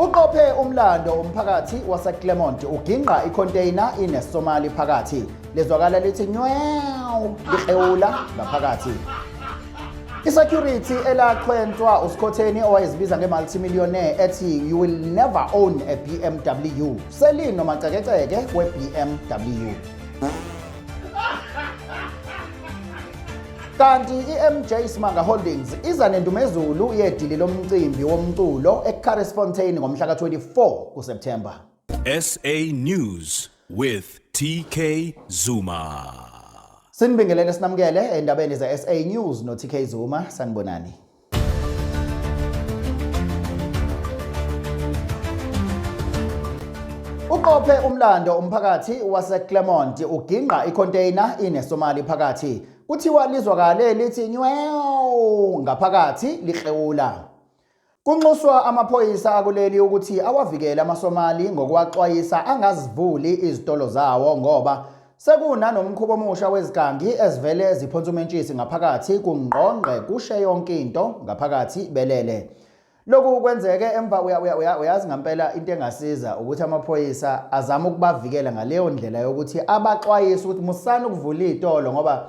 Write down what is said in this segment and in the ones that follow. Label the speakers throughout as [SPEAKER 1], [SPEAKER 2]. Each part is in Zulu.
[SPEAKER 1] Uqophe umlando umphakathi waseClermont ugingqa icontainer inesomali phakathi. Lezwakala lithi nyew lihewula ngaphakathi. Isecurity elaqhwentwa uSikhotheni owayezibiza ngemultimillionaire ethi you will never own a BMW. Selino macekeceke we-BMW. kanti i-mj simanga holdings iza nendumezulu yedili lomcimbi womculo ecaresfontein ngomhla ka-24 kuseptemba sa
[SPEAKER 2] news with tk zuma Sinibingelele
[SPEAKER 1] sinamukele endabeni ze-SA News no-TK Zuma sanibonani. Uqophe umlando umphakathi waseClermont ugingqa icontainer inesomali phakathi. Kuthiwa lizwakale lithi nyew ngaphakathi lihlewula. Kunxuswa amaphoyisa akuleli ukuthi awavikele amaSomali ngokuwaxwayisa angazivuli izitolo zawo ngoba Sekunanomkhuba omusha wezigangi ezivele ziphonsa umentshisi ngaphakathi kungqongqe kushe yonke into ngaphakathi belele. Lokhu kwenzeke emva uyazi ngampela into engasiza ukuthi amaphoyisa azame ukubavikela ngaleyo ndlela yokuthi abaxwayise ukuthi musani ukuvula iy'tolo ngoba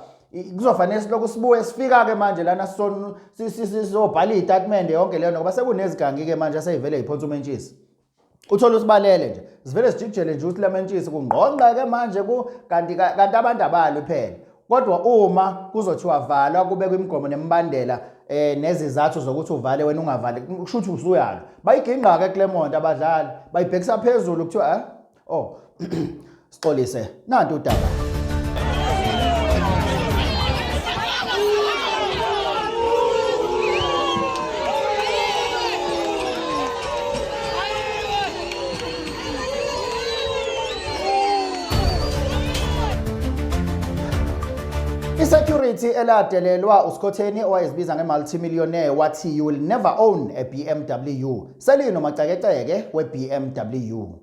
[SPEAKER 1] kuzofanele silokhu sibuye sifika-ke manje lana sizobhala iy'tatimende yonke leyo ngoba sekunezigangi-ke manje aseyivele yiphonsa umentshisi uthole usibalele nje sivele sijijele nje ukuthi lamentshisi kungqongqeke manje ku kanti kanti abantu abalo phela kodwa uma kuzothiwa valwa kube kwimigomo nemibandela eh nezizathu zokuthi uvale wena ungavali kusho ukuthi usuyalo bayigingqa ke Clermont abadlali bayibhekisa phezulu kuthiwa eh Oh. Sixolise nanti udaba. Isecurity eladelelwa uSkhotheni owayezibiza ngemultimillionaire wathi you will never own a BMW. Selino macekeceke weBMW.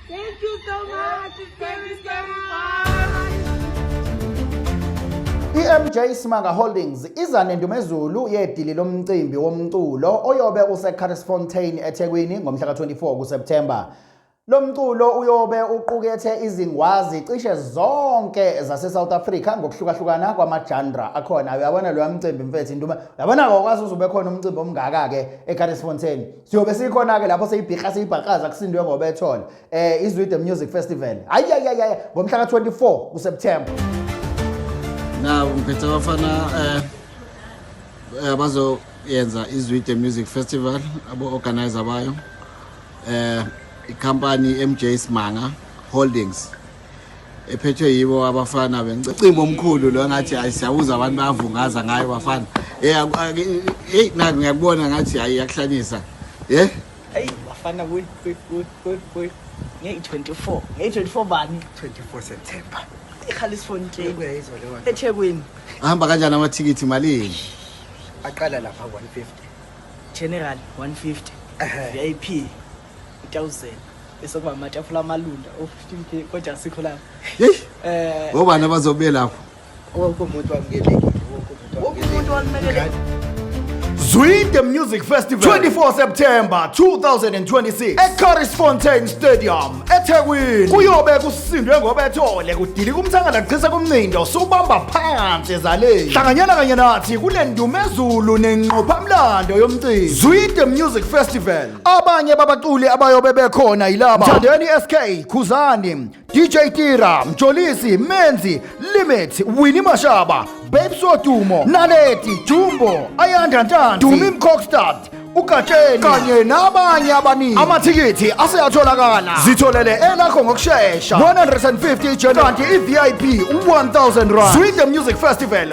[SPEAKER 1] Thank you so much. Thank you so much. I-MJ Simanga Holdings iza nendumezulu yedili lomcimbi womculo oyobe useCarrisfontein eThekwini ngomhla ka-24 kuSeptember. Lo mculo uyobe uqukethe izingwazi cishe zonke zaseSouth Africa ngokuhlukahlukana kwamajanra akhona. Uyabona loya mcimbi mfethu induma. Uyabona-ke okwazi uzobe khona umcimbi omngaka-ke eCarrisfontein. siyobe sikhona-ke lapho seyibhiha siyibhaqaza kusindwe ngoba ethole um izwide music festival ayayayaya ngomhla ka-24 kuseptemba
[SPEAKER 3] na ngiphethe abafana um abazoyenza izwide music festival abo-organizer bayo um ikhampani i-mj smanga holdings ephethwe yibo abafana bencimba omkhulu lo ngathi hayi siyabuza abantu bayavungaza ngayo bafana eyi naki ngiyakubona ngathi hayi iyakuhlanyisa ye eyi
[SPEAKER 4] bafana ngeyi-24 ngeyi-24 bani 24
[SPEAKER 5] september
[SPEAKER 4] ikhalisfontein ethekwini ahamba kanjani
[SPEAKER 3] amathikithi malini aqala
[SPEAKER 5] lapha 150 general
[SPEAKER 4] 150 vip utawuzela bese kuba amatafula amalunda o-15 k kodwa asikho lapho yeyi um
[SPEAKER 3] ngobani abazobe lapho wonke umuntu
[SPEAKER 5] wamukelekile wonke umuntu
[SPEAKER 4] wamukelekile
[SPEAKER 1] Zwide Music Festival 24 September 2026 eCurries Fontaine Stadium eThekwini kuyobe kusindwe ngobethole kudilika umthangala kuchisa kumnindo subamba phansi ezaleni hlanganyela kanye nathi kule ndumezulu nenqophamlando yomcimbi Zwide Music Festival abanye babaculi abayobe bekhona yilaba mthandeni sk khuzani dj tira mjolisi menzi limit wini mashaba babes wodumo naleti jumbo ayanda ntanzi dumi mcockstad ugatsheni kanye nabanye abaningi amathikithi aseyatholakala zitholele elakho ngokushesha 150 ijena kanti i-vip 1000 rand swing the music festival